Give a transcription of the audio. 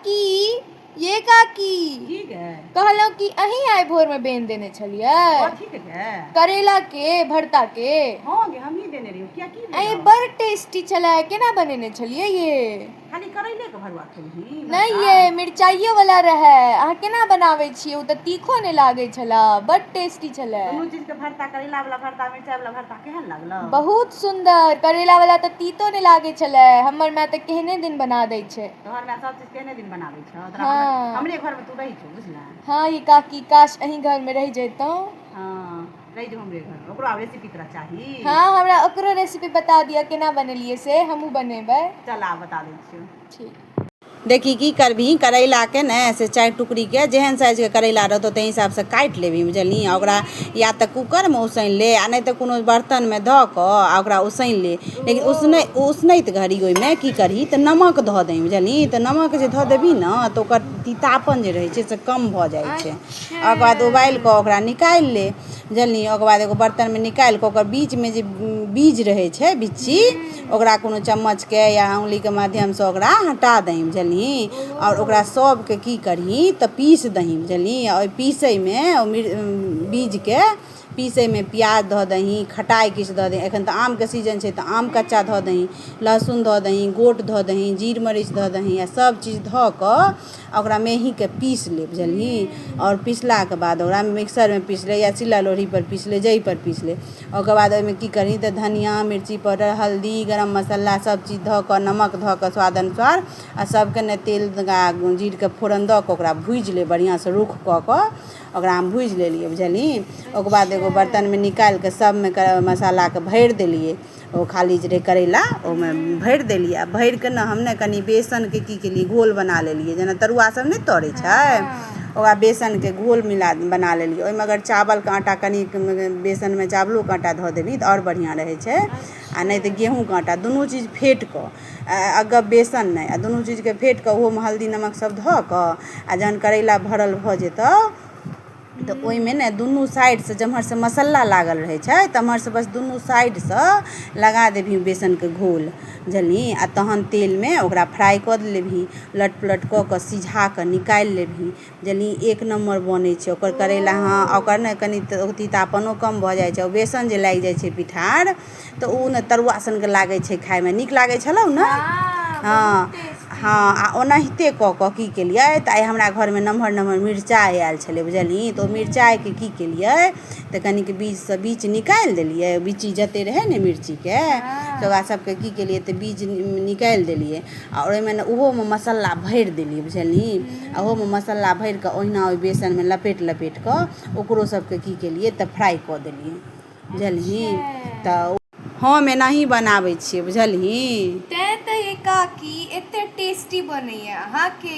की ये काकी की गे कहलहुँ कि अहीं आइ भोरमे बेन देने छलियै कथी के गे करैलाके भरताके हँ गे हमही देने रहियो किया की अरे भेलौ? बड़ टेस्टी छलै केना बनेने छलियै ये खाली करैले के भरुआ खेलही नहि ये मिरचाइयो वाला रहै अहाँ केना बनाबै छियै ओ तऽ तीखो नहि लागै छलै बड़ टेस्टी छलै दुनू चीज के भरता करैला वाला भरता मिरचाई वाला भरता केहन लागलौ बहुत सुन्दर करैला वाला तऽ तीतो नहि लागै छलै हमर माय तऽ केहने दिन बना दै छै घर में सब चीज केने दिन बनाबै छ तोरा हाँ। मतलब हमरे घर में तू रही छ बुझला हां ई काकी काश अही घर में रह जैतौ हां रह जो हमरे घर में ओकरो रेसिपी तोरा चाही हां हमरा ओकरो रेसिपी बता दिया केना बनेलिए से हमहु बनेबै चल आ बता दै छियो ठीक देखी की करबही करैलाके ने से चारि टुकड़ीके जेहन साइजके करैला रहतौ ताहि हिसाबसँ काटि लेबही बुझलही ओकरा या तऽ कूकरमे उसनि ले आओर नहि तऽ कोनो बर्तनमे धऽ कऽ आओर ओकरा उसनि ले लेकिन उसनै उसनैत घड़ी ओइमे की करही तऽ नमक धऽ दही बुझलही तऽ नमक जे धऽ देबही ने तऽ ओकर तीतापन जे रहै छै से कम भऽ जाइ छै आओर ओकर बाद उबालि कऽ ओकरा निकालि ले बुझलही ओकर बाद एगो बर्तनमे निकालि कऽ ओकर बीचमे जे बीज रहै छै बिच्ची ओकरा कोनो चम्मचके या अङ्गुलीके माध्यमसँ ओकरा हटा दही बुझलही आओर ओकरा सभके की करही तऽ पीस दही बुझलही आओर ओहि पीसयमे बीजके पीसयमे प्याज धऽ दही खटाइ किछु धऽ दही एखन तऽ आमके सीजन छै तऽ आम कच्चा धऽ दही लहसुन धऽ दही गोट धऽ दही जीर मरीच धऽ दही आ सभचीज धऽ कऽ आ ओकरा मेहीँके पीस ले बुझलही आओर पिसलाके बाद ओकरा मिक्सरमे पीस ले या सिल्ला लोढ़ीपर पीस ले जाहिपर पीस ले ओकर बाद ओहिमे की करही तऽ धनियाँ मिर्ची पाउडर हल्दी गरम मसाला सभचीज धऽ कऽ नमक धऽ कऽ स्वाद अनुसार आ सभके ने तेल आ जीरके फोरन दऽ कऽ ओकरा भूजि ले बढ़िआँसँ रूख कऽ कऽ ओकरा हम भूजि लेलियै बुझलही ओकर बाद एगो बरतनमे निकालि कऽ सभमे मसालाकेँ भरि देलियै ओ खाली जे रहै करैला ओहिमे भरि देलियै आ भरि कऽ ने हम ने कनि बेसनके की केलियै घोल बना लेलियै जेना तरुआसभ नहि तरै छै ओकरा बेसनके घोल मिला बना लेलियै ओहिमे अगर चावलके आटा कनि बेसनमे चावलोके आटा धऽ देबही तऽ आओर बढ़िआँ रहै छै आ नहि तऽ गेहूँके आटा दुनू चीज फेँटि कऽ अगर बेसन नहि आ दुनू चीजकेँ फेँटि कऽ ओहोमे हल्दी नमकसभ धऽ कऽ आ जखन करैला भरल भऽ जेतह तऽ ओहिमे ने दुनू साइडसँ जेम्हरसँ मसाला लागल रहै छै तेम्हरसँ बस दुनू साइडसँ लगा देबही बेसनके घोल बुझलही आ तहन तेलमे ओकरा फ्राइ कऽ लेबही उलट पुलट कऽ कऽ सिझा कऽ निकालि लेबही बुझलही एक नम्बर बनै छै ओकर करैला हँ ओकर ने कनि तीतापनो कम भऽ जाइ छै बेसन जे लागि जाइ छै पिठार तऽ ओ ने तरुआ सनके लागै छै खाइमे नीक लागै छलौ ने हँ हँ आ ओनाहिते कऽ कऽ की केलियै तऽ आइ हमरा घरमे नमहर नमहर मिरचाइ आयल छलै बुझलियै तऽ ओ मिरचाइके की केलियै तऽ कनिक बीजसँ बीच निकालि देलियै बीची जतेक रहै ने मिर्चीके तऽ ओकरा सभके की केलियै तऽ बीज निकालि देलियै आ ओहिमे ने ओहोमे मसाला भरि देलियै बुझलियै आ ओहोमे मसाला भरि कऽ ओहिना ओहि बेसनमे लपेट लपेट कऽ ओकरो सभके की केलियै तऽ फ्राइ कऽ देलियै बुझलही त ओ। हम एनाही बनाबै छियै बुझलही। तैं त एकाकी एते टेस्टी बनैया अहां के।